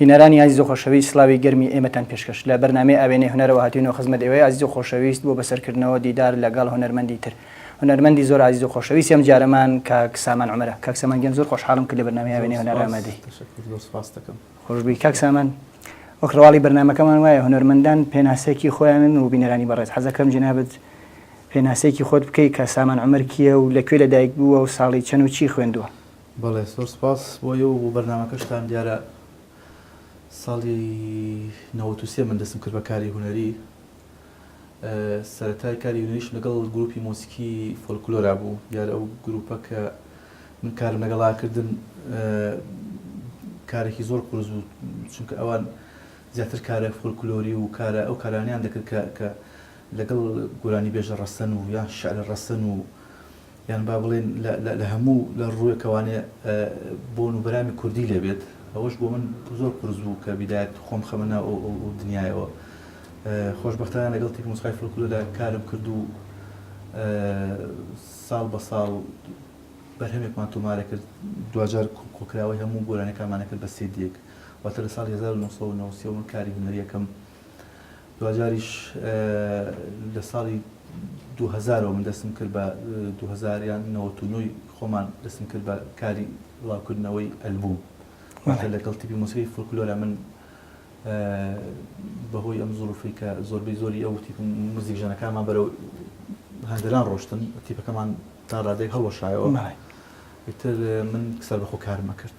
بینەرانی ئازیز و خۆشەویست سڵاوی گەرمی ئێمەتان پێشکەش لە بەرنامەی ئاوێنەی هونەرەوە هاتوینەوە خزمەت ئێوەی ئازیز و خۆشەویست بۆ بەسەر کردنەوە دیدار لە گەڵ هونەرمەندی تر هونەرمەندی زۆر ئازیز و خۆشەویست ئەم جارەمان کاک سامان عومەرە کاک سامان گیان زۆر خۆشحاڵم کە لە بەرنامەی ئاوێنەی هونەر ئامادەی تەشەکور زۆر سپاستەکەم. خۆشبی کاک سامان وەک ڕواڵی بەرنامەکەمان وایە هونەرمەندان پێناسەکی خۆیانن و بینەرانی بەڕێز حەزەکەم جەنابت پێناسەیەکی خۆت بکەی کە سامان عومەر کیە و لە کوێ لە دایک بووە و ساڵی چەن و چی خوێندووە؟ بەڵێ زۆر سوپاس بۆ ئێوە و بۆ بەرنامەکەشتان دیارە ساڵی نەوەت و سێ من دەستم کرد بە کاری هونەری سەرەتای کاری هونەریشم لەگەڵ گروپی مۆسیکی فۆلکلۆرا بوو دیارە ئەو گروپە کە من کارم لەگەڵا کردن کارێکی زۆر قورس بوو چونکە ئەوان زیاتر کارە فۆلکلۆری و کارە ئەو کارانیان دەکرد کە لەگەڵ گۆرانی بێژە ڕەسەن و یان شعر ڕەسەن و یان با بڵێین لە هەموو لە ڕووێکەوانێ بۆن و بەرامی کوردی لێ بێت، ئەوەش بۆ من زۆر قورس بوو کە بیدایەت خۆم خەمە ناو ئەو ئەو دنیایەوە. خۆشبەختانە لەگەڵ تیپی موسقای فلکلۆدا کارم کرد و ساڵ بە ساڵ بەرهەمێکمان تۆمارە کرد، دواجار کۆکراوەی هەموو گۆرانیەکانمان ئەکرد بە سێدیەک، واتە لە ساڵی هەزار و نۆ سەد و نەوەد و سێ وە من کاری هونەریەکەم دواجاریش لە ساڵی دوو هەزارەوە من دەستم کرد بە دوو هەزار یان نەوەت و نۆی خۆمان دەستم کرد بە کاری بڵاوکردنەوەی ئەلبووم واتە لەگەڵ تیپی مۆسیقی فۆلکلۆرە من بەهۆی ئەم زۆرفی کە زۆربەی زۆری ئەو تیپ موزیک ژەنەکانمان بەرەو هەندەران ڕۆشتن تیپەکەمان تا ڕادێک هەڵوەشایەوە ئیتر من سەر بەخۆ کارمە کرد.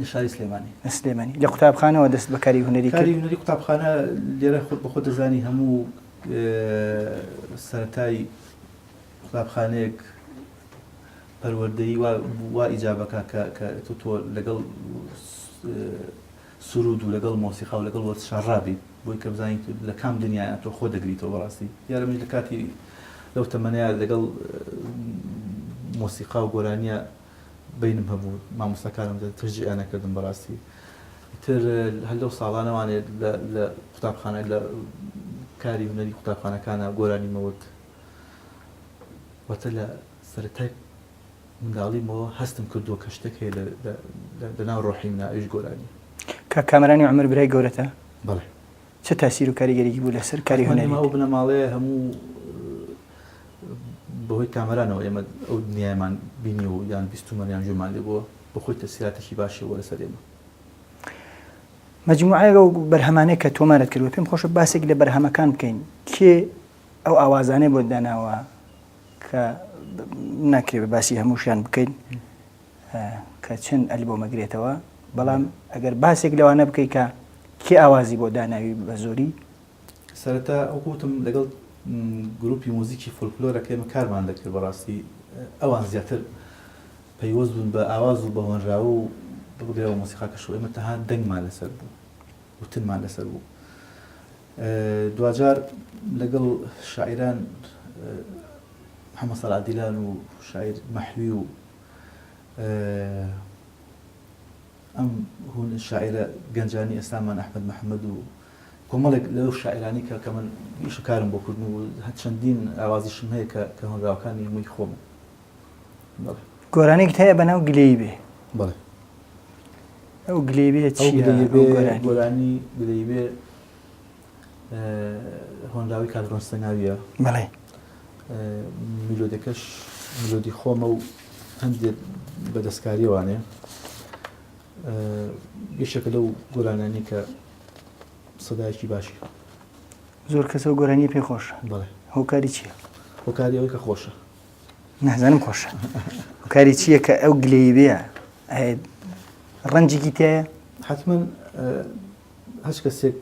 لە شاری سلێمانی لە سلێمانی لە قوتابخانەوە دەست بە کاری هونەری کاری هونەری قوتابخانە لێرە خۆت بە خۆ دەزانی هەموو سەتای قوتابخانەیەک پەروەردەی وا ئیجابەکە کە تۆ تۆ لەگەڵ سرود و لەگەڵ مۆسیقا و لەگەڵ وەرز شارڕابی بۆی کە بزانیت لە کام دنیا تۆ خۆ دەگریتەوە بەڕاستی یارە من لە کاتی لەو تەمەەیە لەگەڵ مۆسیقا و گۆرانیە بەینم هەبوو مامۆستاکانم تەشجیعیان ئەکردم بەڕاستی ئیتر هەر لەو ساڵانە وانێ لە قوتابخانە لە کاری هونەری قوتابخانەکانە گۆرانی مەوت واتە لە سەرەتای منداڵیمەوە هەستم کردووە کە شتێک هەیە لەناو ڕۆحی منە ئەویش گۆرانی کە کامەرانی عمر برای گەورەتە بەڵێ چ تاسیر و کاریگەریەکی بوو لەسەر کاری هونەریت؟ ئێمە ئەو بنەماڵەیە هەموو بەهۆی کامەرانەوە ئێمە ئەو دنیایەمان بینی و یان بیستومان یان گوێمان لێ بووە بەخۆی تەسیراتێکی باشی بووە لەسەر ئێمە. مەجموعەیەک ئەو بەرهەمانەی کە تۆمارت کردووە پێم خۆشە باسێک لە بەرهەمەکان بکەین کێ ئەو ئاوازانەی بۆت داناوە کە ناکرێ باسی هەمووشیان بکەین کە چەند ئەلبۆم ئەگرێتەوە بەڵام ئەگەر باسێک لەوانە بکەیت کە کێ ئاوازی بۆ داناوی بە زۆری سەرەتا ئەو گوتم لەگەڵ گروپی موزیکی فولکلۆرە کە ئێمە کارمان دەکرد بەڕاستی ئەوان زیاتر پەیوەست بوون بە ئاواز و بە هۆنراوە و بگرەوە مۆسیقاکەش و ئێمە تەها دەنگمان لەسەر بوو وتنمان لەسەر بوو دواجار لەگەڵ شاعران محەممە سەرعادیلان و شاعر مەحوی و ئەم هوون شاعیرە گەنجانی ئێستامان ئەحمەد محەمەد و کۆمەڵێک لەو شاعیرانی کە کە من ئیش و کارم بۆ کردن و هەر چەندین ئاوازیشم هەیە کە کە هۆنراوەکانی مووی خۆم گۆرانێک هەیە بە ناو گلەی بێ بڵێ ئەو گلەی بێ گۆرانی گلەی بێ هۆنراوەی کاک ڕۆنستە ناوییە بەڵێ میلۆدەکەش میلۆدی خۆمە و هەندێک بە دەستکاریوانێ یەشەکە لەو گۆرانانی کە سەدایکی باشی زۆر کەسە گۆرانی پێ خۆشە بڵێ هۆکاری چییە هۆکاری ئەوەی کە خۆشە نازانم خۆشە هۆکاری چییە کە ئەو گلەی بێ ڕەنجێکی تایە حتمما هەچ کەسێک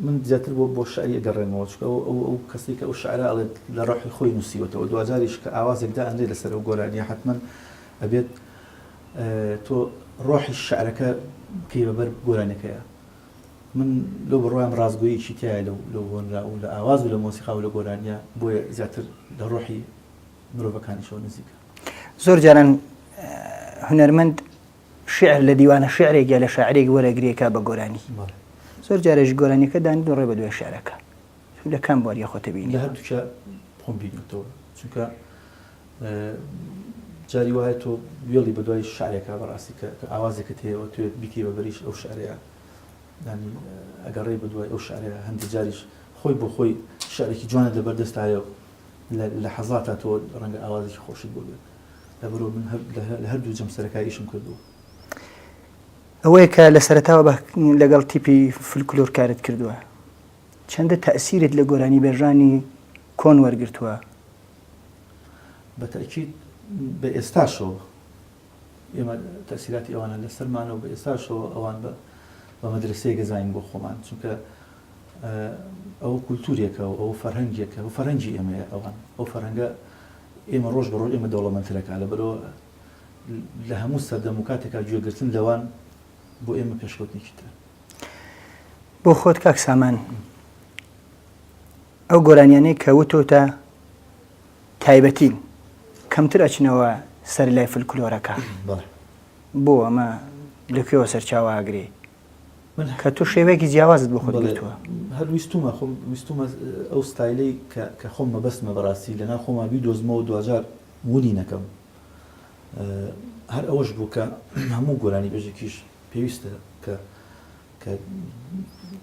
من زیاتر بۆ بۆ شعری ئەگەڕێمەوە چونکە ئەو ئەو ئەو کەسەی کە ئەو شعرە ئەڵێت لە ڕۆحی خۆی نووسیوەتەوە دواجاریش کە ئاوازێک دائەنرێ لەسەر ئەو گۆرانییە حەتمەن ئەبێت تۆ ڕۆحی شعرەکە بکەی بە بەر گۆرانیەکەیە من لەو بڕوایم ڕاستگۆیەکی تایە لەو لەو هۆنرا و لە ئاواز و لە مۆسیقا و لە گۆرانیە بۆیە زیاتر لە ڕۆحی مرۆڤەکانیشەوە نزیکە زۆر جاران هونەرمەند شیعر لە دیوانە شیعرێک یا لە شاعرێک وەرەگرێ کا بە گۆرانی زۆر جارێژ گۆرانیەکە دانی دو ڕێ بە دوای شارەکە لە کام بواری خۆتەبیین هەردووکە خۆم بینەوە چونکە جاری وایە تۆ وێڵی بە دوای شارێکا بەڕاستی کە ئاوازێکە تێەوە توێ بیتی بە بەریش ئەو شارەیە دانی ئەگەڕێ بە دوای ئەو شارەیە هەندی جاریش خۆی بۆ خۆی شارێکی جوانە لەبەردەستایە لە حەزاتە تۆ ڕەنگە ئاوازێکی خۆشت بۆ بێت لەبەرو من لە هەردوو جەمسەرەکە ئیشم کردووە ئەوەیە کە لە سەرتاوە بە لەگەڵ تیپی فلکلۆر کارت کردووە چەندە تەسیرت لە گۆرانی بێژانی کۆن وەرگتووە بەتەکی بە ئێستاشەوە ئێمە تەسیراتی ئەوانە لە سەرمانەوە بە ئێستاشەوە ئەوان بە بە مەدرسەیە گەزانین بۆ خۆمان چونکە ئەو کولتورێکە و ئەو فەرهەنگێکە و فەرەنجی ئێمەیە ئەوان ئەو فەرەنگە ئێمە ڕۆژ بە ڕۆژ ئێمە دەوڵەمەنترەکە لەبەرئەوە لە هەموو سەردەم و کاتێکا گوێ گرتن لەوان بۆ ئێمە پێشکەوتنێکی ترە. بۆ خۆت کاک سامان ئەو گۆرانیانەی کە وتۆتە تایبەتین کەمتر ئەچنەوە سەر لای فلکلۆرەکە بۆ ئەمە لەکوێوە سەرچاواگرێ کە تۆ شێوەیەکی جیاوازت بۆ خۆت گرتووە. هەر ویستوومە خۆم ویستوومە ئەو ستایلەی کە خۆم مەبەستمە بەڕاستی لەناو خۆما بیدۆزمەوە دواجار ونی نەکەم هەر ئەوەش بوو کە هەموو گۆرانی بەژێکیش پێویستە کە کە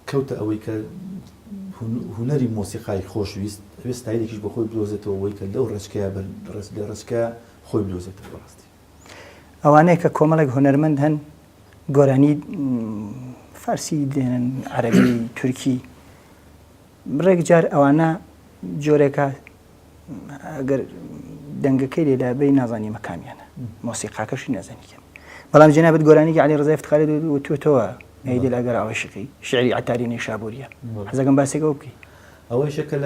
کەوتە ئەوەی کە هوەری مۆسیقای خۆشویست ئەوێ ستایلێکیش بە خۆی بدۆزێتەوە ئەوەی کە لەو ڕێچکەیە بەر ڕێز لە ڕێچکە خۆی بدۆزێتەوە ڕاستی ئەوانەیە کە کۆمەڵێک هونەرمەند هەن گۆرانی فارسی دێنن عەربی تورکی بڕێک جار ئەوانە جۆرێکە ئەگەر دەنگەکەی لێدا بی نازانی مەکامیانە مۆسیقاکەشی نازانی کەم بەڵام جنابەت گۆرانیگە علی ڕزای فتخاری وتوتەوە نەیدل ئەگەر ئاوشقی شعری عتاری نەیشابووریە حەزەکەم باسێکەوە بکەی ئەوەیشە کە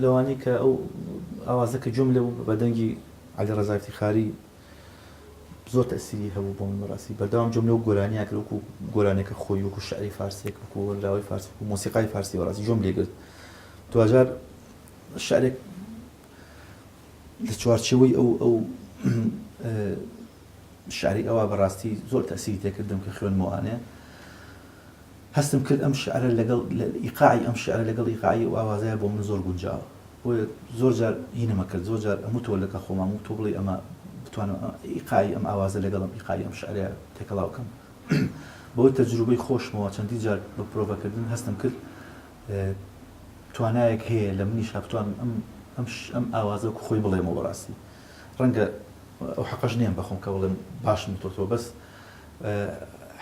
لەوانی کە ئەو ئاوازەکە جملە بوو بە دەنگی عەلی ڕەزا ئیفتیخاری زۆر تەئسیری هەبوو بۆ من بەڕاستی بەردەوام گوێم لەو گۆرانیە کرد وەکو گۆرانێکە خۆی وەکو شعری فارسێک وەکو هۆنراوەی فارس وەکو مۆسیقای فارسی بەڕاستی گوێم لێ گرت دواجار شعرێک لە چوارچێوەی ئەو ئەو شعری ئەوە بەڕاستی زۆر تەئسیری تێکردم کە خوێنمەوانێ هەستم کرد ئەم شیعرە لەگەڵ ئیقاعی ئەم شیعرە لەگەڵ ئیقاعی ئەو ئاوازەیا بۆ من زۆر گونجاوە بۆیە زۆر جار هینم ئەکرد زۆر جار ئەموتەوە لەگەڵ خۆمام و تۆ بڵێی ئەمە بتوانم ئیقاعی ئەم ئاوازە لەگەڵ ئەم ئیقاعی ئەم شیعرەیا تێکەڵاو بکەم بەهۆی تەجروبەی خۆشمەوە چەندین جار بە پرۆڤە کردن هەستم کرد توانایەک هەیە لە منیشا بتوانم ئەم ئەم ئەم ئاوازە وەکو خۆی بڵێمەوە بەڕاستی ڕەنگە ئەو حەقەش نێم بە خۆم کە بڵێم باشم وتۆتەوە بەس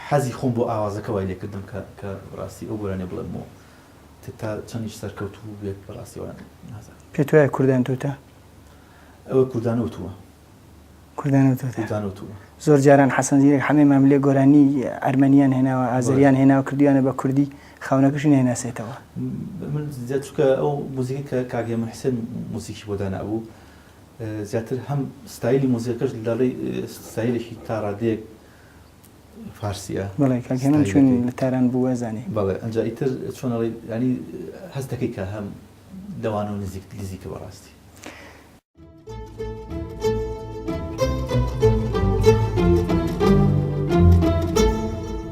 حەزی خۆم بۆ ئاوازەکە وای لێکردم کە کە بەڕاستی ئەو گۆرانیە بڵێم بۆ تتا چەندیش سەرکەوتوو بێت بەڕاستی وایان نازانم. پێت وایە کوردان تووتە؟ ئەوە کوردان وتووە. کوردان وتووە. کوردان وتووە. زۆر جاران حەسەن زیرەک حەمەی ماملێ گۆرانیی ئەرمەنییان هێناوە، ئازەرییان هێناوە کردوویانە بە کوردی، خاوەنەکەشی نایناسێتەوە. من زیاد چونکە ئەو موزیکەی کە کاک هێمن حسێن موزیکی بۆ دانابوو، زیاتر هەم ستایلی مۆزیکەکەش دەڵێی ستایلێکی تا ڕادەیەک فارسیە. بەڵێ کاک هێمن چون لە تاران بوو ئەزانی. بەڵێ ئەنجا ئیتر چۆن ئەڵێی یانی هەست دەکەی کە هەم لەوانەوە نزیک نزیکە بەڕاستی.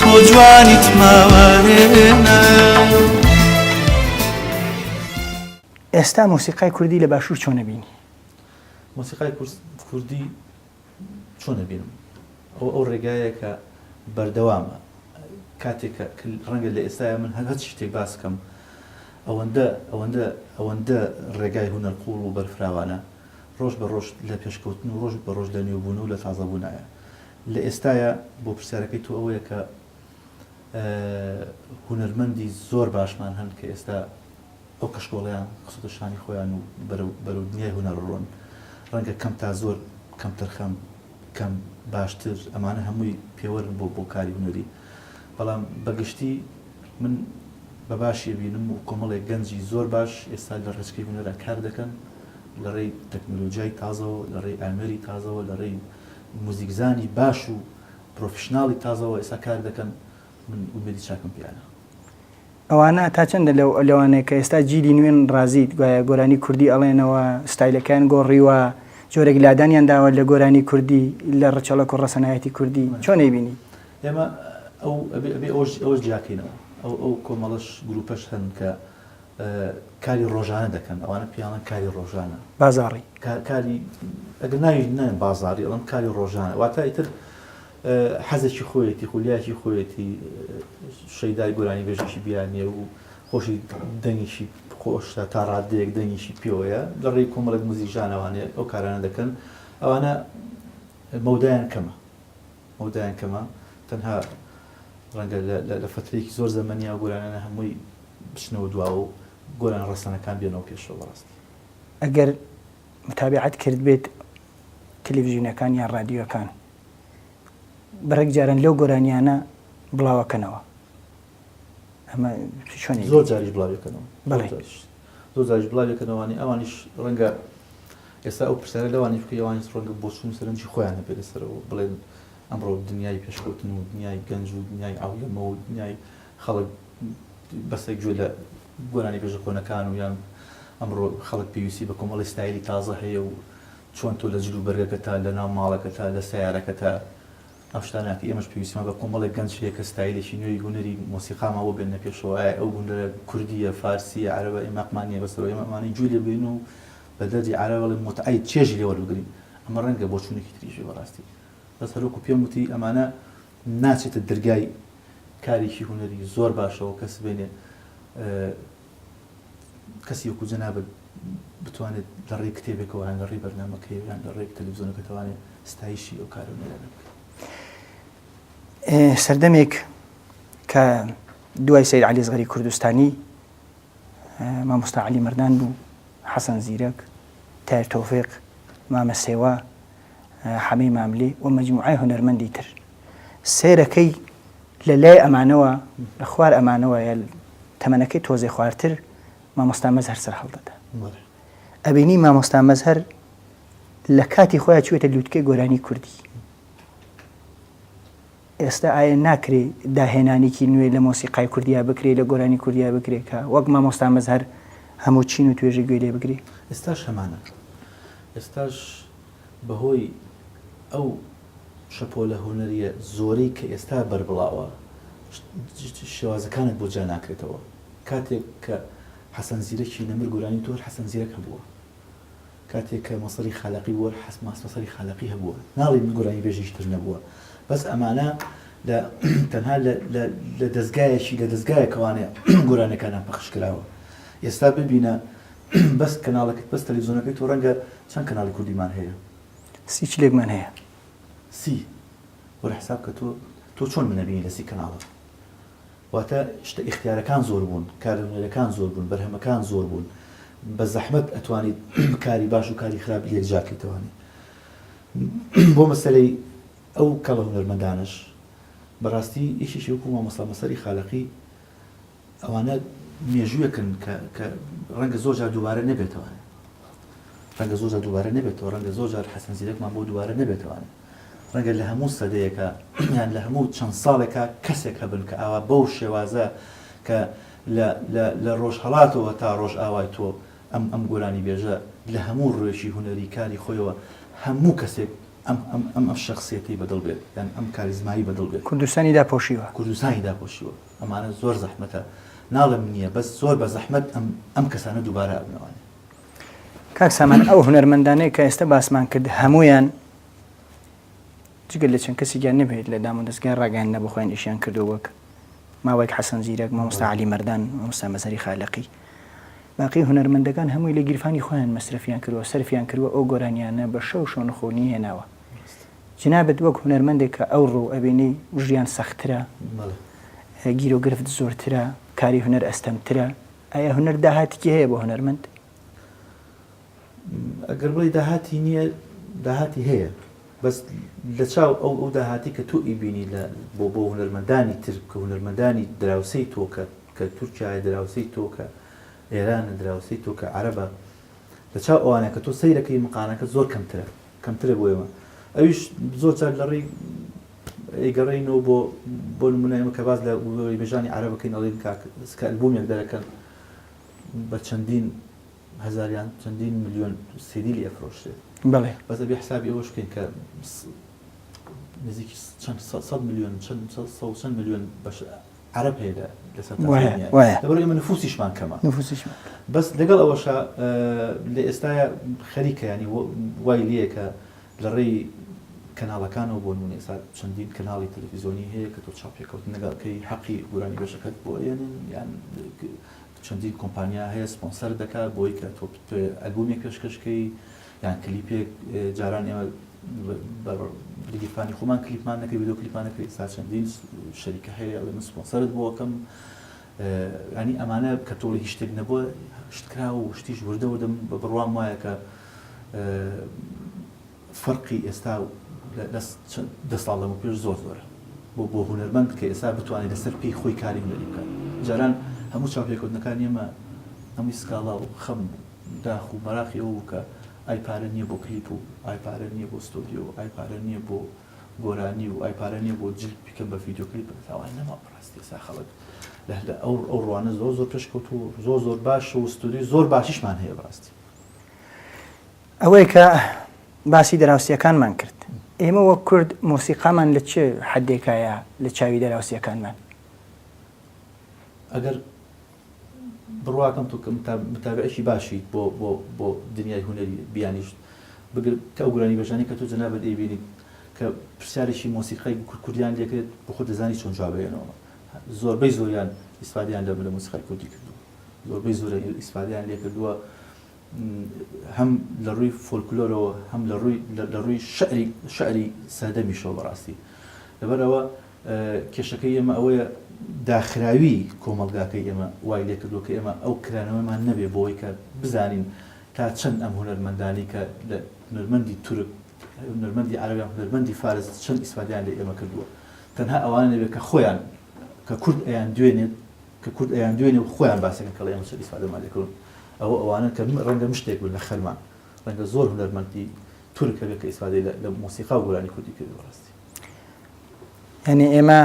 تۆ جوانیت ماوارێنە. ئێستا مۆسیقای کوردی لە باشوور چۆنە بینی مۆسیقای کوردی چۆنە بینم ئەو ئەو ڕێگایە کە بەردەوامە کاتێک ڕەنگە لە ئێستاە من هەر هەچ شتێک باسکەم ئەوەندە ئەوەندە ئەوەندە ڕێگای هوەر قوڵ و بەرفراوانە ڕۆژ بە ڕۆژ لە پێشکەوتن و ڕۆژ بە ڕۆژ لە نوێبوون و لە تازەبوونایە لە ئێستایا بۆ پرسیارەکەی تۆ ئەوەیە کە هونەرمەندی زۆر باشمان هەن کە ئێستا ئەو کەشکۆڵەیان خستە شانی خۆیان و بەرەو دنیای هونەر ڕۆن ڕەنگە کەم تا زۆر کەم تەرخەم کەم باشتر ئەمانە هەمووی پێوەرن بۆ بۆ کاری هونەری بەڵام بەگشتی من بە باشی بینم و کۆمەڵێک گەنجی زۆر باش ئێستا لە ڕێچکەی هونەرا کار دەکەن لە ڕێی تەکنۆلۆژیای تازەوە لە ڕێی ئامێری تازەوە لە ڕێی موزیکزانی باش و پرۆفیشناڵی تازەوە ئێستا کار دەکەن من ئومێدی چاکم پێیانە. ئەوانە تا چەندە لەو لەوانەیە کە ئێستا جیلی نوێن ڕازیت گوایە گۆرانی کوردی ئەڵێنەوە ستایلەکەیان گۆڕیوە جۆرێک لادانیان داوە لە گۆرانی کوردی لە ڕچەڵەک و ڕەسەنایەتی کوردی چۆن ئەیبینی؟ ئێمە ئەو ئەبێ ئەبێ ئەوەش ئەوەش جیاکەینەوە ئەو ئەو کۆمەڵەش گروپەش هەن کە کاری ڕۆژانە دەکەن ئەوانە پێیانڵێن کاری ڕۆژانە بازاڕی کاری ئەگەر ناوی نەن بازاری ئەڵم کاری ڕۆژانە واتە ئیتر حەزێکی خۆیەتی خولیاکی خۆیەتی شەیدای گۆرانی بێژێکی بیانە و خۆشی دەنگیشی خۆشە تا ڕادەیەک دەنگیشی پێوەیە لە ڕێی کۆمەڵک موزیژانەوانێ ئەو کارانە دەکەن ئەوانە مەودایان کەمە مەودایان کەمە تەنها ڕەنگە لە فترێکی زۆر زەمەنیا گۆرانە هەمووی بچنەوە دواوە و گۆران ڕەسەنەکان بێنەوە پێشەوە بەڕاستی. ئەگەر متابەعەت کردبێت تەلەفزیونەکان یان ڕادیۆکان بڕێک جاران لەو گۆرانیانە بڵاوەکەنەوە ئەمە چۆن زۆر جاریش بڵاوەکەنەوە بەڵێش زۆر جاریش بڵاوەکەنەوەوانی ئەوانیش ڕەنگە ئێستا ئەو پرسیارە لەوانی بکەیوانی ڕەنگە بۆچون سەرنجی خۆیان هەبێت لەسەرەوە بڵێن ئەمڕۆ دنیای پێشکەوتن و دنیای گەنج و دنیای ئاولەمە و دنیای خەڵک بەسە گوێ لە گۆرانی بێژە کۆنەکان و یان ئەمڕۆ خەڵک پێویستی بە کۆمەڵی ستایلی تازە هەیە و چۆن تۆ لە جل و بەرگەکە تا لە ناو ماڵەکە تا لە سەیارەکە تا ئەم شتانە کە ئێمەش پێویستمان بە کۆمەڵێک گەنج هەیە کە ستایلێکی نوێی هونەری مۆسیقامان بۆ بێننە پێشەوە ئایا ئەو هونەرە کوردییە فارسییە عەرەبە ئێمە هەقمان نییە بەسەر ئێمە ئەمانەی گوێ لێ بگرین و بە دەردی عەرەب بڵێن موتعەی چێژی لێ وەربگرین ئەمە ڕەنگە بۆچوونێکی تریش بێ بەڕاستی بەس هەر وەکوو پێم وتی ئەمانە ناچێتە درگای کارێکی هونەری زۆر باشەوە کە سبێنێ کەسی وەکو جەنابت بتوانێت لە ڕێی کتێبێکەوە یان لە ڕێی بەرنمەکەی یان لە ڕێک تەلویزیۆنەکە توانێت ستایشی ئەو کارو نێرانە سەردەمێک کە دوای سیر علی زغری کوردستانی مامۆستا علی مردان بوو حەسەن زیرەک تایر تۆفێق مامە سێوە حەمەی ماملێ و مەجموعای هونەرمەندی تر سێرەکەی لە لای ئەمانەوە لە خوار ئەمانەوە تەمەنەکەی تۆزێ خوارتر مامۆستا مەز هەر سەر هەڵدەدا ئەبینی مامۆستا مەز هەر لە کاتی خۆیان چێتە لووتکەی گۆرانی کوردی ئێستا ئایە ناکرێ داهێنانیکی نوێ لە مۆسیقای کوردیا بکرێ لە گۆرانی کوردیا بکرێ کە وەک مامۆستا مەزهەر هەموو چین و توێژە گوێ لێ بگری؟ ئێستاش هەمانە ئێستاش بە هۆی ئەو شەپۆلە هونەریە زۆرەی کە ئێستا بەربڵاوە شێوازەکانت بۆ جیا ناکرێتەوە کاتێک کە حەسەن زیرەکی نەمر گۆرانی تۆ هەر حەسەن زیرەک هەبووە. کاتێک کە مەسەلی خالەقی بووە حەسن ماس مەسەلی خالەقی هەبووە ناڵێین گۆرانی بێژیش تر نەبووە بەس ئەمانە لە تەنها لە لە لە دەزگایەکی لە دەزگایەکەوانێ گۆرانیەکانیان پەخش کراوە ئێستا ببینە بەس کەناڵەکەت بەس تەلەفزیۆنەکەی تۆ ڕەنگە چەند کەناڵی کوردیمان هەیە سی چلێکمان هەیە سی وەرە حساب کە تۆ تۆ چۆن منە بینی لە سی کەناڵە. واتە شتە ئیختیارەکان زۆر بوون، کارلەنوێنەرەکان زۆر بوون، بەرهەمەکان زۆر بوون، بە زەحمەت ئەتوانیت کاری باش و کاری خراپ یەکجار کەیتەوانێ. بۆ مەسەلەی ئەو کەڵە هونەرمەندانەش، بە ڕاستی یەکێکی وەکوو مامۆستا مەسەلی خالەقی، ئەوانە مێژوویەکن کە کە ڕەنگە زۆر جار دووبارە نەبێتەوانێ. ڕەنگە زۆر جار دووبارە نەبێتەوە، ڕەنگە زۆر جار حەسەن زیرەکمان بۆ دووبارە نەبێتەوانێ. ڕەنگە لە هەموو سەدەیەکا یان لە هەموو چەند ساڵێکا کەسێک هەبن کە ئاوا بەو شێوازە کە لە لە لە ڕۆژهەڵاتەوە تا ڕۆژئاوای تۆ ئەم ئەم گۆرانیبێژە لە هەموو ڕوێکی هونەری کاری خۆیەوە هەموو کەسێک ئەم ئەم ئەم ئەم شەخسیەتەی بە دڵ بێت یان ئەم کاریزمایی بە دڵ بێت. کوردستانی داپۆشیوە. کوردستانی داپۆشیوە. ئەمانە زۆر زەحمەتە. ناڵێم نییە بەس زۆر بە زەحمەت ئەم ئەم کەسانە دووبارە ئەبنەوە. کاک سامان ئەو هونەرمەندانەی کە ئێستا باسمان کرد هەمویان جگە لە چەند کەسی گیان نبێت لە دام و دەستگای ڕاگەیان نەبخۆیان ئیشیان کردو وەک ماوەیەک حەسەن زیرەک مامۆستا علی مەردان مامۆستا مەزەری خالقی باقی هونەرمەندەکان هەمووی لە گیرفانی خۆیان مەسرفیان کردوە سەرفیان کردوە ئەو گۆرانیانە بە شەو شۆن خۆنی هێناوە جنابەت وەک هونەرمەندێک کە ئەو ڕوو ئەبینەی ژیان سەخترە گیرۆگرفت زۆرترە کاری هونەر ئەستەمترە ئایا هونەر داهاتێکی هەیە بۆ هونەرمەند؟ ئەگەر بڵێ داهاتی نییە داهاتی هەیە بەس لە چاو ئەو ئەو داهاتی کە تۆ ئیبینی لە بۆ بۆ هونەرمەندانی تر کە هونەرمەندانی دراوسەی تۆکە کە تورکایە دراوسەی تۆکە ئێرانە دراوسەی تۆکە عەرەبە لە چاو ئەوانە کە تۆ سەیرەکەی مقانەکە زۆر کەمترە کەمترە بۆ ئێمە ئەویش زۆر جار لە ڕێی ئەیگەڕێینەوە بۆ بۆ نمونە ئێمە کە باز لە وێژانی عەرەب بکەین ئەڵێن کاک کە ئەلبوومێک دەرەکەن بە چەندین هەزاریان چەندین ملیۆن سیدی لێ ئەفرۆشرێت بەڵێ بەس ئەبێ حسابی ئەوەش بکەین کە نزیکی چەند سەد سەد ملیۆن چەند سەد سەد و چەند ملیۆن بەش عەرەب هەیە لە لەسەر تاسمانیا لەبەر ئێمە نفوسیشمان کەمە بەس لەگەڵ ئەوەشە لە ئێستاە خەریکە ینی وای لەیە کە لە ڕێی کەناڵەکانەوە بۆ نمونە ئێستا چەندین کەناڵی تەلەفیزیۆنی هەیە کە تۆ چاپێکەوت نەگەڵکەی حەقی گورانی بەشەکەت بۆ ئێنن یان چەندین کۆمپانیا هەیە سپۆنسەر دەکات بۆی کە تۆ ئەلبومی پێشکەشکەی یان کلیپێک جاران ئێمە بە گیرفانی خۆمان کلیپمان نەکرد ڤیدیۆ کلیپمان نەکرد ئێستا چەندین شەریکە هەیە ئەڵێ من سپۆنسەرت بۆ ئەکەم ینی ئەمانە کە تۆڵی هیچ شتێک نەبووە شتکرا و شتیش وردە وردەم بە بڕوام وایە کە فەرقی ئێستا و دە ساڵ لەمە پێش زۆر زۆرە بۆ بۆ هوەرمەند کە ئێستا بتوانێت لەسەر پێی خۆی کاری هوەری بکات جاران هەموو چاپێکوتنەکان ئێمە هەمووی سکاڵا و خەم بوو داخ و مەراقی ئەوە بوو کە ئای پارە نییە بۆ کلیپ و ئای پارە نییە بۆ ستۆدیۆ و ئای پارە نییە بۆ گۆرانی و ئای پارە نییە بۆ جلد بیکەم بە ڤیدیۆ کلیپ بەس ئەوە نەما بەڕاستی ئێستا خەڵک لە لە ئەو ئەو ڕوانە زۆر زۆر پێشکەوتوو و زۆر زۆر باشە و ستۆدیۆی زۆر باشیشمان هەیە بەڕاستی. ئەوەی کە باسی دراوسێکانمان کرد ئێمە وەک کورد مۆسیقامان لە چ حەدێکایە لە چاوی دراوسێکانمان؟ ئەگەر بڕواکەم تۆ متابعێکی باشیت بۆ بۆ بۆ دنیای هونەری بیانیشت بگر کە ئەو گۆرانی بەژانەی کە تۆ جەنابت ئەیبینیت کە پرسیارێکی مۆسیقای کورد کوردیان لێکرێت بۆ خۆت دەزانی چۆن جواب ئەیەنەوە زۆربەی زۆریان ئیسفادەیان لە مۆسیقای کوردی کردووە زۆربەی زۆریان ئیسفادەیان لێکردووە هەم لە ڕووی فۆلکلۆرەوە هەم لە ڕووی لە ڕووی شعری شعری سەردەمیشەوە بەڕاستی لەبەرەوە کێشەکەی ئێمە ئەوەیە داخراوی کۆمەلگاکەی ئێمە وای لێ کردووە کە ئێمە ئەو کرانەوەمان نەبێ بۆی کە بزانین تا چەند ئەم هونەرمەندانی کە لە هونەرمەندی تورک هونەرمەندی عربیان هونەرمەندی فارس چەند ئیسفادیان لە ئێمە کردووە تەنها ئەوانە نەبێت کە خۆیان کە کورد ئەیان دوێنێت کە کورد ئەیان دوێنێ و خۆیان باسەکەن کەڵێ ئێمە چۆن ئیسفادەمان لێ کڕون ئەوە ئەوانەن کە ڕەنگە مشتێک بن لە خەرمان ڕەنگە زۆر هونەرمەندی تورک هەبێ کە ئیسفادەی لە مۆسیقا و گۆرانی کوردی کردی بەڕاستی یعنی ئێمە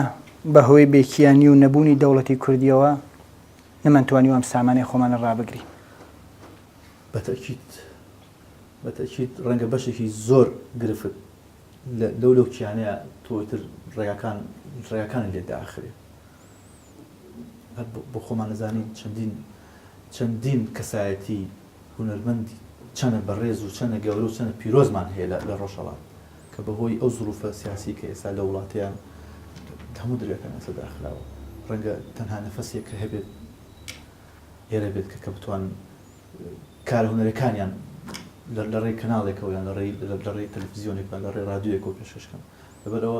بە هۆی بێکیانی و نەبوونی دەوڵەتی کوردیەوە نەمانتوانی ئەم سامانەی خۆمانە ڕابگری بەتەکیت بەتەکیت ڕەنگە بەشێکی زۆر گرفت لەو لەو کیانەیە تۆتر ڕێگاکان ڕێگاکان لێ داخرێت هەر بۆ خۆمان ئەزانین چەندین چەندین کەسایەتی هونەرمەند چەنە بەڕێز و چەنە گەورە و چەنە پیرۆزمان هەیە لە لە ڕۆژهەڵات کە بەهۆی ئەو زروفە سیاسی کە ئێستا لە وڵاتیان هەموو دەرگاکان ئێستا داخراوە ڕەنگە تەنها نەفەسێک کە هەبێت ئێرە بێت کە کە بتوان کارە هونەرەکانیان لە لە ڕێی کەناڵێکەوە یان لە ڕێی لە ڕێی تەلەفزیۆنێکە لە ڕێ ڕادیۆیەکەوە پێشکەشکەن لەبەرەوە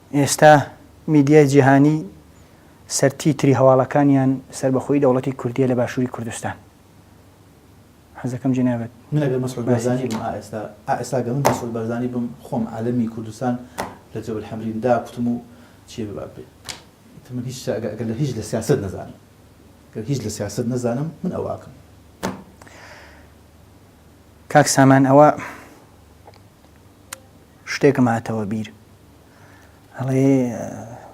ئێستا میدیای جیهانی سەرتیتری هەواڵەکانیان سەربەخۆیی دەوڵەتی کوردیە لە باشوری کوردستان. حەزەکەم جەنابت من ئەگەر مەسعود بارزانی بم ئا ئێستا ئا ئێستا گەر من مەسعود بارزانی بم خۆم عالەمی کوردستان لە جەبل حەمرین دا کوتم و چیە بێ باب بێ ئیتر من هیچ ئەگەر ئەگەر لە هیچ لە سیاسەت نەزانم گەر هیچ لە سیاسەت نەزانم من ئەوە ئەکەم. کاک سامان ئەوە. شتێکم هاتەوە بیر ئەڵێ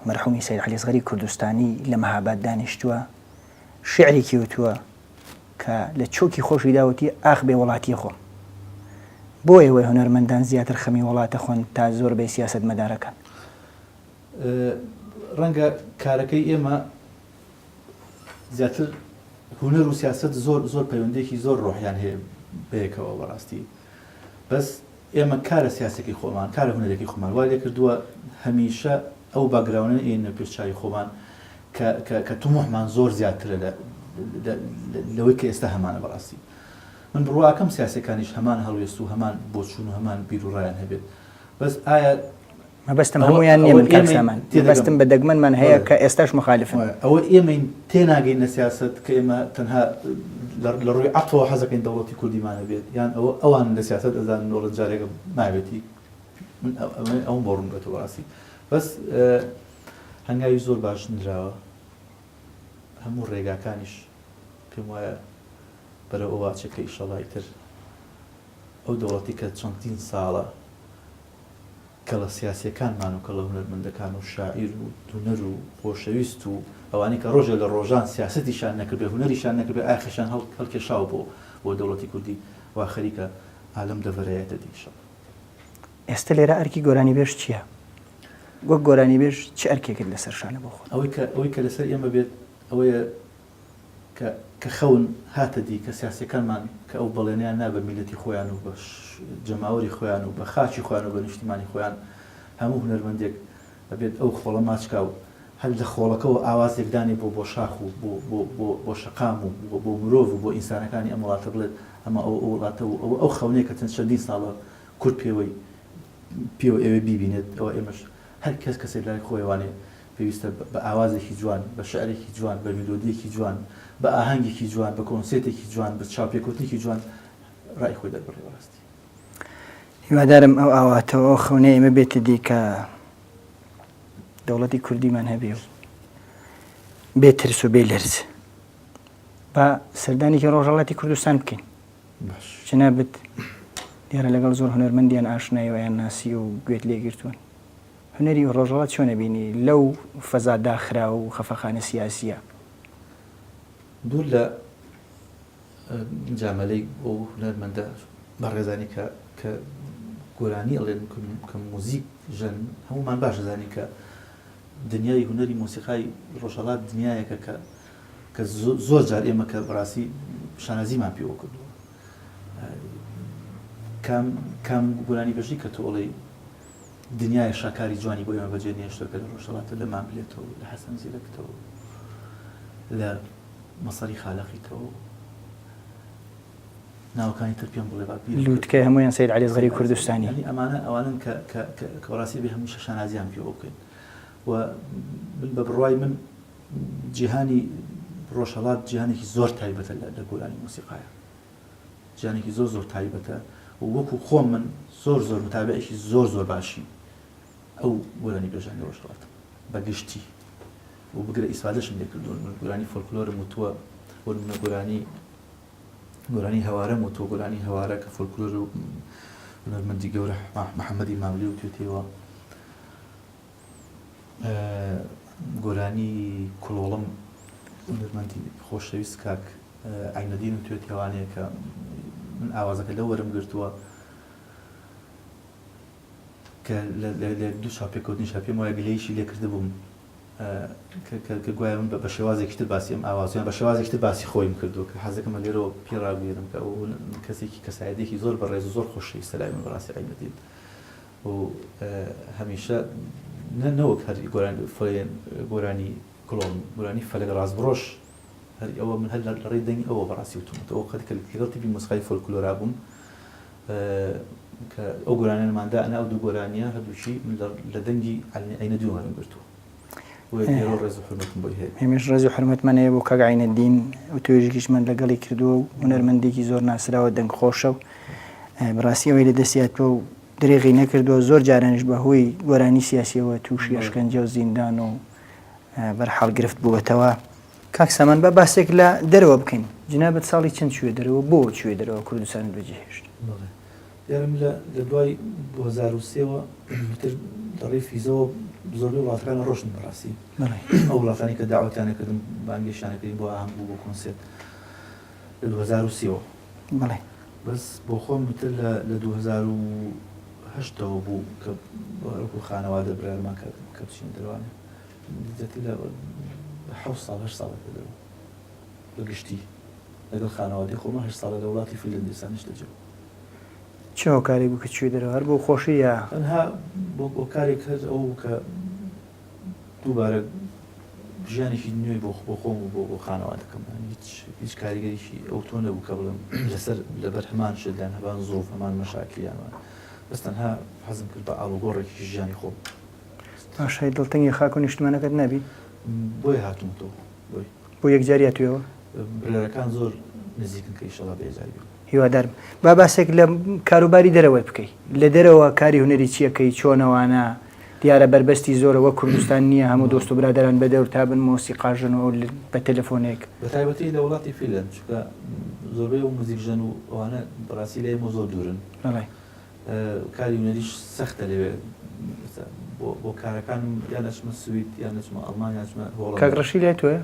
مەرحومی سەید عەلی ئەسغەری کوردستانی لە مەهاباد دانیشتووە شعرێکی وتووە کە لە چۆکی خۆشی داوتی ئاخ بێ وڵاتی خۆم بۆ ئێوەی هونەرمەندان زیاتر خەمی وڵاتە خۆن تا زۆر بەی سیاست مەدارەکان ڕەنگە کارەکەی ئێمە زیاتر هونەر و سیاست زۆر زۆر پەیوەندێکی زۆر ڕۆحیان هەیە بەیەکەوە بەڕاستی بەس ئێمە کارە سیاسیەکەی خۆمان، کارە هونەریەکەی خۆمان وای لێکردووە هەمیشە ئەو باکگراونە نەیەنە پێش چاوی خۆمان کە کە کە توموحمان زۆر زیاترە لە لە لەوەی کە ئێستا هەمانە بەڕاستی من بڕواکەم سیاسیەکانیش هەمان هەڵوێست و هەمان بۆچوون و هەمان بیروڕایان هەبێت بەس ئایا مەبەستم هەمویان نیە من کاک سامان مەبەستم بە دەگمەنمان هەیە کە ئێستاش مخالفن ئەوە ئێمەین تێناگەین لە سیاسەت کە ئێمە تەنها لە ڕووی عەقڵەوە حەزەکەین دەوڵەتی کوردیمان هەبێت یان ئەوە ئەوان لە سیاسەت ئەزانن دەوڵەت جارێکە نابێتی من ئەوم بۆ ڕوون بێتەوە ڕاستی بەس هەنگاوی زۆر باش نراوە هەموو ڕێگاکانیش پێم وایە بەرەوە واچەکە ئیشەڵای تر ئەو دەوڵەتی کە چەندین ساڵە کەڵە سیاسیەکانمان و کەڵە هونەرمەندەکان و شاعیر و دونەر و خۆشەویست و ئەوانەی کە ڕۆژێ لە ڕۆژان سیاسەتیشان نەکردبێ هونەریشان نەکردبێ ئایا خەشیان هەڵکێشاوە بۆ بۆ دەوڵەتی کوردی وا خەریکە ئا لەم دەڤەرەیە دەدی ئیشەڵا. ئێستە لێرە ئەرکی گۆرانیبێژ چیە؟ وەک گۆرانیبێژ چ ئەرکێکت لەسەر شانە بۆ خۆت؟ ئەوەی کە ئەوەی کە لەسەر ئێمە بێت ئەوەیە کە کە خەون هاتە دی کە سیاسیەکانمان کە ئەو بەڵێنیان نا بە میلەتی خۆیان و بە جەماوەری خۆیان و بە خاکی خۆیان و بە نیشتیمانی خۆیان هەموو هونەرمەندێک ئەبێت ئەو خۆڵە ماچکا و هەر لە خۆڵەکەوە ئاوازێک دانێ بۆ بۆ شاخ و بۆ بۆ بۆ بۆ شەقام و بۆ بۆ مرۆڤ و بۆ ئینسانەکانی ئەم وڵاتە بڵێت ئەمە ئەو ئەو وڵاتە و ئەوە ئەو خەونەیە کە چەند چەندین ساڵە کورد پێوەی پێوە ئەوێ بیبینێت ئەوە ئێمەش هەر کەس کەسێک لای خۆیەوانێ پێویستە بە ئاوازێکی جوان، بە شعرێکی جوان، بە میلۆدییەکی جوان، بە ئاهەنگێکی جوان، بە کۆنسێتێکی جوان، بە چاوپێکەوتنێکی جوان ڕای خۆی دەربڕی بەڕاستی. هیوادارم ئەو ئاواتە و ئەو خەونەی ئێمە بێتە دی کە دەوڵەتی کوردیمان هەبێ و بێ ترس و بێ لەرز با سەردانێکی ڕۆژهەڵاتی کوردستان بکەین باش. جنابت دیارە لەگەڵ زۆر هونەرمەندیان ئاشنای و یان ناسی و گوێت لێگرتوون. هونەری ڕۆژەڵات چۆن ئەبینی لەو فەزا داخراو و خەفەخانە سیاسیە؟ دوور لە مجامەلەی ئەو هونەرمەندە بەڕێزانەی کە کە گۆرانی ئەڵێن کە موزیک ژەن هەموومان باش ئەزانین کە دنیای هونەری مۆسیقای ڕۆژهەڵات دنیایەکە کە کە زۆر جار ئێمە کە بەڕاستی شانازیمان پێوە کردووە کام کام گۆرانی بەژی کە تۆ ئەڵێی دنیایە شاکاری جوانی بۆ ئێمە بەجێ نێشتوە کە لە ڕۆژهەڵاتە لە ماملێتەوە لە حەسەن زیرەکتەوە لە مەسەری خالەقیتەوە ناوەکانی تر پێم بڵێ لووتکەی هەمویان سید علی غەری کوردستانی ئەمانە ئەوانن کەڕاستی بێ هەموو شەشانازیان پێ بکەین و من بە بڕای من جیهانی ڕۆژهڵات جیهانێکی زۆر تایبەتە لە گۆرانی موسیقاە جانێکی زۆر زۆر تایبەتە و وەکو خۆم من زۆر زۆر متابعێکی زۆر زۆر باشی ئەو گۆرانی بێژانی ڕۆژهەڵاتم بە گشتی و بگرە ئیسفادەشم لێکردوون من گۆرانی فۆلکلۆرم وتووە بۆ منە گۆرانی گۆرانی هەوارەم و تۆ گۆرانی هەوارە کە فۆلکلۆر و هونەرمەندی گەورە محەممەدی ماملی و توێتەوە گۆرانی کلۆڵم هونەرمەندی خۆشەویست کاک عەینەدین توێتیەوانەیە کە من ئاوازەکە لەو وەرم گرتووە کە لە دوو چاپێکوتنیشا پێم وایە گلەیشی لێکردبووم کە گوایە من بە شێوازێکی تر باسی ئەم ئاوازیان بە شێوازێکی تر باسی خۆیم کردووە کە حەزەکەمە لێرەوە پێ ڕابگەێنم کە ئەو کەسێکی کەسایەتێکی زۆر بە ڕێز زۆر خۆشی سەلای من بەڕاستی عینەدین و هەمیشە نەوەک هەر گۆرانی گۆرانی کڵۆن گۆرانی فەلەک ڕاستبڕۆش هەر ئەوە من هەر لە لەڕێی دەنگی ئەوە بەڕاستی وتومەتەوە قەت کە لەگەڵ تیپی مۆسیقای فۆلکلۆرا بووم کە ئەو گۆرانیانمان دانا ئەو دوو گۆرانیە هەردووشی من لە دەنگی عەلنی عینە دووەم گرتووە ڕێز و حرمەتم بۆی هەیە هێمش ڕێز و حرمەتمان هەیە بۆ کاک عینە دین و توێژیش من لەگەڵی کردووە و هونەرمەندێکی زۆر ناسراوە دەنگ خۆشە و بڕاستی ئەوەی لە دەستیاتۆ و درێغی نەکردووە زۆر جارانش بە هۆی گۆرانی سیاسیەوە تووشی ئەشکەنجە و زیندان و بەرحاڵ گرفت بووەتەوە. کاک سامان با باسێک لە دەرەوە بکەین جنابت ساڵی چەند چووە دەرەوە بۆ چووە دەرەوە کوردستانت بەجێهێشت؟ بەڵێ یارم لە لە دوای دوو هەزار و سێ وە تر لە ڕێی فیزەوە زۆربەی وڵاتەکان ڕۆشتم بەڕاستی ئەو وڵاتانی کە داوەتیان نەکردم بانگێشتیان نەکردین بۆ ئاهەنگ و بۆ کۆنسێرت لە دوو هەزار و سێ وە بەڵێ بەس بۆ خۆم تر لە لە دوو هەزار و هەشتەوە بوو کە باوک و خانەوادە بڕیارمان کرد کە بچینە دەروان زیاتر لە حەوت ساڵ هەشت ساڵە کە دەروان بە گشتی لەگەڵ خانەوادەی خۆمان هەشت ساڵە لە وڵاتی فینلەندستان نیشتەجێ چ هۆکارێک بوو کە چووی دەرەوە هەر بۆ خۆشی یا؟ تەنها بۆ کارێک هەر ئەوە بوو کە دووبارە ژیانێکی نوێ بۆ بۆ خۆم و بۆ بۆ خانەوادەکەم هیچ هیچ کاریگەریی ئەوتۆ نەبوو کە بڵێم لەسەر لەبەر هەمان شت لەن هەبان زۆف هەمان مەشاکلیانوان بەس تەنها حەزم کرد بە ئاڵوگۆڕێکی ژیانی خۆم پاشای دڵتەنگی خاک و نیشتمانەکەت نابی بۆی هاتومەتەوە بۆی بۆ یەکجاریا توێەوە برەکان زۆر نزیکن کە ئیشەڵا بێجاری هیوادارم با باسێک لە کاروباری دەرەوەت بکەی لە دەرەوە کاری هونەری چیەکەی چۆنەوانە دیارە بەربەستی زۆرە وە کوردستان نییە هەموو دۆست و برادران بە دەور تابن مۆسی قاژن و بە تەلەفۆنێک بەتایبەتی لە وڵاتی فیلەن چکە زۆربەی و موزیک ژەن و ئەوانە بەڕاستی لە ئێمە زۆر دوورن کاری هونەریش سەختە لەوێ بۆ کارەکانم یان ئەچمە سوید یان ئەچمە ئەڵمان یاچمە هۆڵ کاگڕشی لای تۆە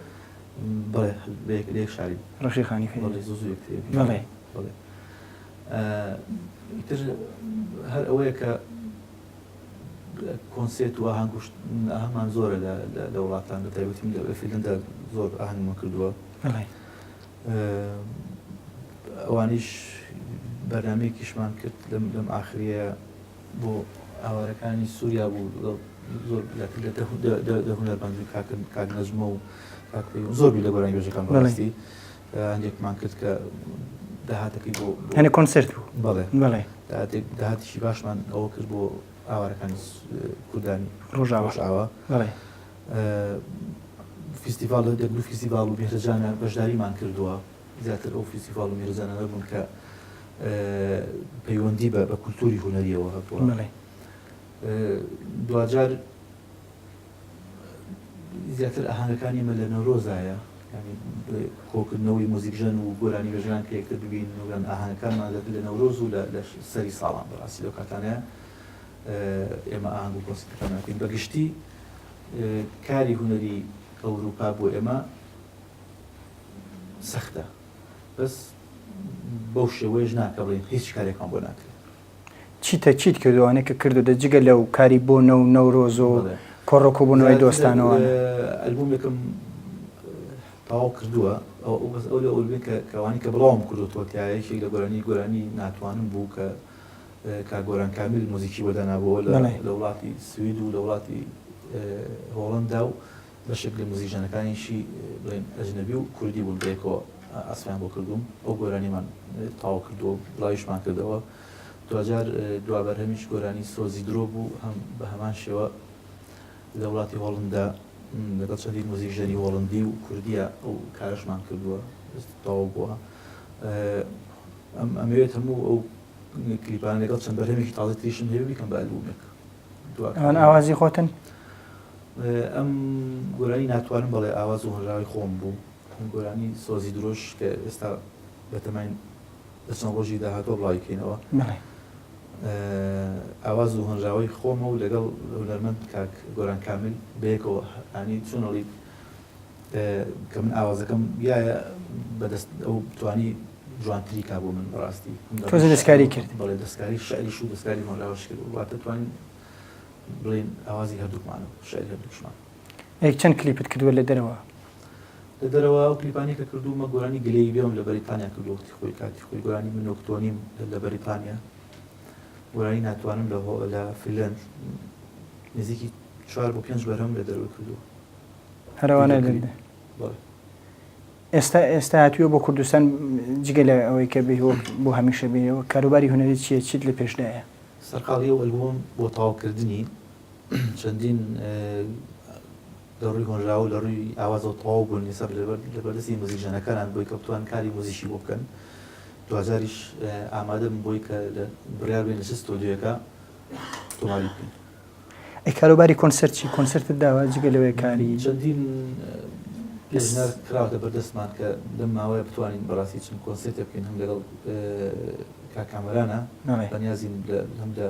بەڵێ بە یەک لە یەک شاری ڕەفیقانی خەیری بەڵێ زوو زوو یەکتر یەک بەڵێ بەڵێ ئیتر هەر ئەوەیە کە کۆنسێت و ئاهەنگ کوشت ئاهەنگمان زۆرە لە لە وڵاتان بە تایبەتی من لە فیلندا زۆر ئاهەنگمان کردووە بەڵێ ئەوانیش بەرنامەیەکیشمان کرد لەم لەم ئاخریە بۆ ئاوارەکانی سوریا بوو لەگەڵ زۆر لە هونەرمەند و کاک نەجمە و کاک پەیوەند زۆر بوو لە گۆرانی بێژەکان بەڕاستی هەندێکمان کرد کە داهاتەکەی بۆ هەنێ کۆنسرت بوو بەڵێ بەڵێ داهاتیشی باشمان ئەوە کرد بۆ ئاوارەکانی کوردانی ڕۆژاوەشاوە بەڵێ فیستیڤال دەک دوو فیستیڤال و بێژەجانە بەشداریمان کردووە زیاتر ئەو فیستیڤاڵ و میرزانانە بوون کە پەیوەندی بە بە کولتوری هونەریەوە هەبووە دواجار زیاتر ئاهانەکانی مە لە نەورۆزایە کۆکردنەوەی موزیکژەن و گۆرانی بەژان پێکتر ببین وگەن ئاهانەکانمان دەکرد لە نەورۆز و لە سەری ساڵان بەڕاستی لەو کاتانە ئێمە ئاهنگ و کۆسیەکان ناکەین بەگشتی کاری هوەری ئەوروپا بۆ ئێمە سەختە بەس بەو شێوەیەش نا کە بڵێین هیچ کارێکمان بۆ ناکرێت. چیتە چیت کردووە ئەوانەی کە کردووتە جگە لەو کاری بۆ نەو و نەورۆز و بەڵێ. کۆڕ و کۆبوونەوەی زیاتر دۆستانەوە؟ اه، ئەلبوومێکم تەواو کردووە ئەو ئەو بەس ئەو لە ئەلبوومەی کە کە ئەوانەی کە بڵاوم کردووەتەوە تیایە یەکێک لە گۆرانی گۆرانی ناتوانم بوو کە اه، کاک گۆران کامیل موزیکی بۆ دانابووەوە لە بەڵێ. لە وڵاتی سوید و لە وڵاتی اه، هۆڵەندا و بەشێک لە موزیکژەنەکانیشی بڵێن ئەجنەبی و کوردی بوون بەیەکەوە ئاسفیان بۆ کردووم ئەو گۆرانیمان تەواو کردووە و بڵاویشمان کردەوە دواجار دوا بەرهەمیش گۆرانی سۆزی درۆ بوو هەم بە هەمان شێوە لە وڵاتی هۆڵندا لەگەڵ چەندین موزیکژەنی هۆڵندی و کوردیە ئەو کارەشمان کردووە تەواو بووە ئەم ئەمەوێت هەموو ئەو کلیپانە لەگەڵ چەند بەرهەمێکی تازەی تریشم هەیە بیکەم بە ئەلبوومێک ئەمان ئاوازی خۆتن ئەم گۆرانی ناتوانم بەڵێ ئاواز و هۆژاوی خۆم بوو ئەم گۆرانی سۆزی درۆش کە ئێستا بەتەمای دەچەند ڕۆژی داهاتۆ بڵایکەینەوە ئاواز و هەنراوەی خۆمە و لەگەڵ هونەرمەند کاک گۆران کامل بەیەکەوە ئەنی چونەڵی کە من ئاوازەکەم یایە بەدەست ئەو توانی جوانتری کا بۆ من بەڕاستی تۆزە دەستکاری کرد بەڵێ دەستکاری شعریش و دەستکاری مەلاوەش کرد و واتە توانین بڵێن ئاوازی هەردووکمان و شعری هەردووکشمان ئەی چەند کلیپت کردووە لە دەرەوە لە دەرەوە و کلیپانی کە کردوومە گۆرانی گلەی بێم لە بەریتانیا کردو وەختی خۆی کاتی خۆی گۆرانی من نۆکتۆنیم لە بەریتانیا گۆرانی ناتوانم لە هۆ لە فیلەند نزیکی چوار بۆ پێنج بەرهەم لە دەروی کردووە هەرەوانە ئێستا ئێستا هاتووە بۆ کوردستان جگە لە ئەوەی کە بێ بۆ هەمیشە بێەوە کاروباری هوەری چیە چیت لە پێشدایە سەرقاڵی و ئەلبوم بۆ تاوکردنی چەندین لە ڕووی هۆنراوە لە ڕووی ئاوازەوە تەواو بوون نیسە لە بەردەستی موزیک ژەنەکانان بۆی کەوتوان کاری موزیشی بۆ بکەن دوجاریش ئامادەم بۆی کە بڕیار بێن لە چ ستۆدیۆەکە تۆماری بکەن ئەی کاروباری کۆنسرت چی کۆنسرتت داوە جگە لەوەیە کاری چەندین پێشنیار کراوەتە بەردەستمان کە لەم ماوەیە بتوانین بەڕاستی چم کۆنسرتێ بکەین هەم لەگەڵ کاکامەرانە بەنیازین هەم لە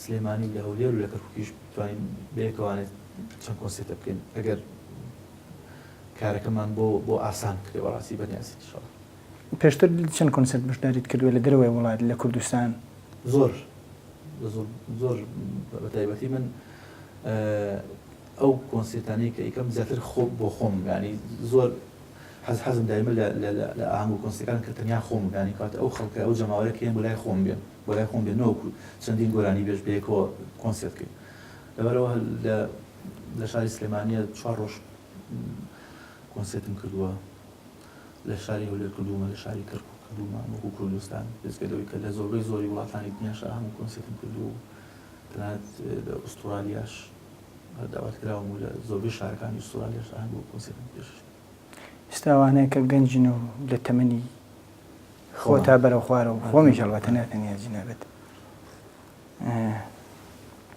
سلێمانی لە هەولێر و لە کەرکوکیش بتوانین بەیەکەوانێت چەند کۆنسرتە بکەین ئەگەر کارەکەمان بۆ بۆ ئاسان کرێ بەڕاستی بەنیازی شڵ پێشتر چەند کۆنسێرت بەشداریت کردووە لە دەرەوەی وڵات لە کوردستان؟ زۆر زۆر بە تایبەتی من ئەو کۆنسێتانەی کە ئیکەم زیاتر خۆ بۆ خۆم گانی زۆر حەز حەزم دایمە لە ئاهنگ و کۆنسەکان کە تەنیا خۆم گانی کات ئەو خەڵکە ئەو جەماوەرە کێن بۆ لای خۆم بێن بۆ لای خۆم بێن نۆکو چەندین گۆرانی بێش بێکەوە کۆنسێت کرد لەبەرەوە لە شاری سلێمانە چوار ڕۆژ کۆنسێتم کردووە لە شاری هەولێر کردوومە، لە شاری کەرکووک کردوومە، وەکوو کوردستان بێجگە لەوەی کە لە زۆربەی زۆری وڵاتانی دنیاشا هەموو کۆنسێرتم کردووە و تەنانەت لە ئوستورالیاش داوات کراوم و لە زۆربەی شارەکانی ئوستورالیاشا هەنگاو کۆنسێرتم پێشکەش کردووە. ئێستا ئەوانە کە گەنجن و لە تەمەنی خۆتا بەرە خوارە و خۆمیش هەڵبەتە نە تەنیا جەنابت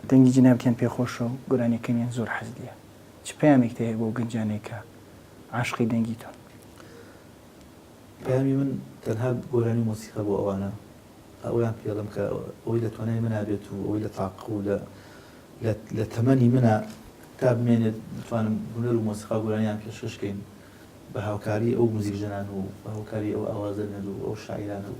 دەنگی جەنابتیان پێ خۆشە و گۆرانیەکەمیان زۆر حەز لێیە چ پەیامێکت هەیە بۆ ئەو گەنجانەی کە عاشقی دەنگی تۆن. پەیامی من تەنها گۆرانی و مۆسیقا بۆ ئەوانە ئەوەیان پێڵێم کە ئەوەی لە توانای منا بێت و ئەوەی لە تاقە و لە لە تەمەنی منا تا بمێنێت بتوانم هونەر و مۆسیقا و گۆرانیان پێشکەش کەین بە هاوکاری ئەو موزیکژەنان و بە هاوکاری ئەو ئاوازە نەر و ئەو شاعیرانە و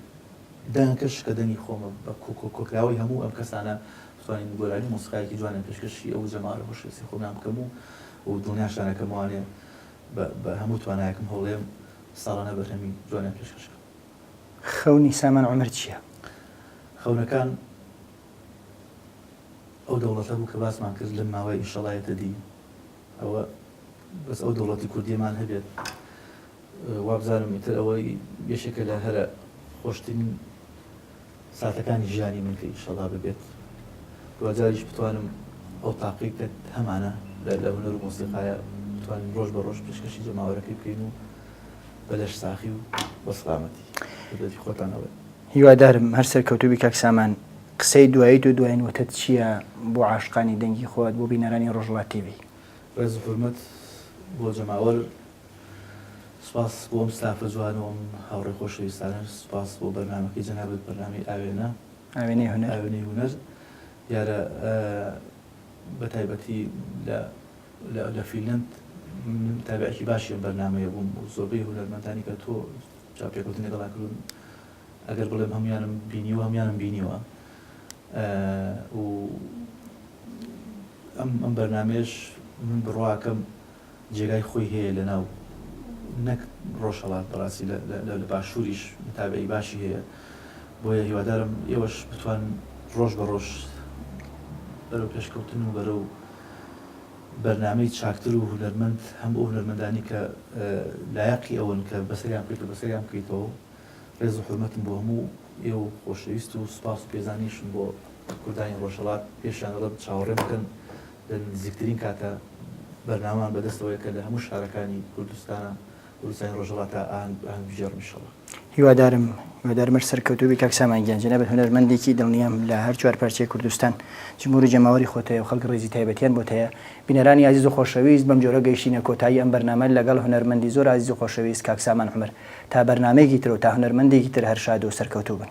دەنگەکەش کە دەنگی خۆمە بە کۆکراوەی هەموو ئەم کەسانە بتوانین گۆرانی و مۆسیقایەکی جوانە پێشکەشی ئەو جەماوەرە هۆشەویستەی خۆمیان بکەم و و دڵنیان شانەکەم وانەیە بە بە هەموو توانایەکم هەوڵێم ساڵانە بەرهەمی جوانیان پێشکەش کەم. خەونی سامان عومەر چیە؟ خەونەکان ئەو دەوڵەتە بوو کە باسمان کرد لەم ماوەیە ئینشەڵا یەتە دی ئەوە بەس ئەو دەوڵەتی کوردیەمان هەبێت وابزانم ئیتر ئەوەی یەکێکە لە هەرە خۆشترین ساتەکانی ژیانی من کە ئینشەڵا ببێت دواجاریش بتوانم ئەو تاقەی کە هەمانە لە لە هونەر و مۆسیقایە بتوانین ڕۆژ بە ڕۆژ پێشکەشی جەماوەرەکەی بکەین و بە لەش ساخی و بە سڵامەتی خدمەتی خۆتانەوەی هیوادارم هەر سەرکەوتوبی کاک سامان قسەی دوایی تۆ دواین وتت چییە بۆ عاشقانی دەنگی خۆت بۆ بینەرانی ڕۆژهەڵات تیڤی. ڕێز و حورمەت بۆ جەماوەر سوپاس بۆ ئەم ستافە جوان و ئەم هاوڕێ خۆشەویستانەش سوپاس بۆ بەرنامەکەی جەنابت بەرنامەی ئاوێنە ئاوێنەی هونەر ئاوێنەی هونەر دیارە بە تایبەتی لە لە فیلند من تابعێکی باشی ئەم بەرنمەیە بووم و زۆربەی هونەرمەندانی کە تۆ چاپێکوتن لەگەڵا کردون ئەگەر بڵێم هەمویانم بینیوە هەمویانم بینیوە و ئەم ئەم بەرنمێش من بڕواکەم جێگای خۆی هەیە لە ناو نەک ڕۆژهەڵات بەڕاستی لە لە باشووریش متابەعی باشی هەیە بۆیە هیوادارم ئێوەش بتوان ڕۆژ بە ڕۆژ بەرەو پێشکەوتن و بەرەو بەرنامەی چاکتر و هونەرمەند هەم ئەو هونەرمەندانی کە لایەقی ئەوەن کە بەسەریان بکەیتەوە بەسەریان بکەیتەوە و ڕێز و حورمەتم بۆ هەموو ئێوە و خۆشەویست و سوپاس و پێزانیشم بۆ کوردانی ڕۆژهەڵات پێشیان دەڵێم چاوەڕێم بکەن لە نزیکترین کاتدا بەرنامەمان بەدەستەوەیە کە لە هەموو شارەکانی کوردستان کوردستانی ڕۆژهەڵات تا ئاهەنگ ئاهەنگ بگێڕم انشاللە. هیوادارم هیوادارم هەر سەرکەوتوو بیت کاک سامان گیان جەنابت هونەرمەندێکی دڵنیام لە هەر چوار پارچەی کوردستان جمهور و جەماوەری خۆت هەیە و خەڵک ڕێزی تایبەتیان بۆت هەیە بینەرانی ئازیز و خۆشەویست بەم جۆرە گەیشتینە کۆتایی ئەم بەرنامە لەگەڵ هونەرمەندی زۆر ئازیز و خۆشەویست کاک سامان عومەر تا بەرنامەیەکی تر و تا هونەرمەندێکی تر هەر شاد و سەرکەوتوو بن.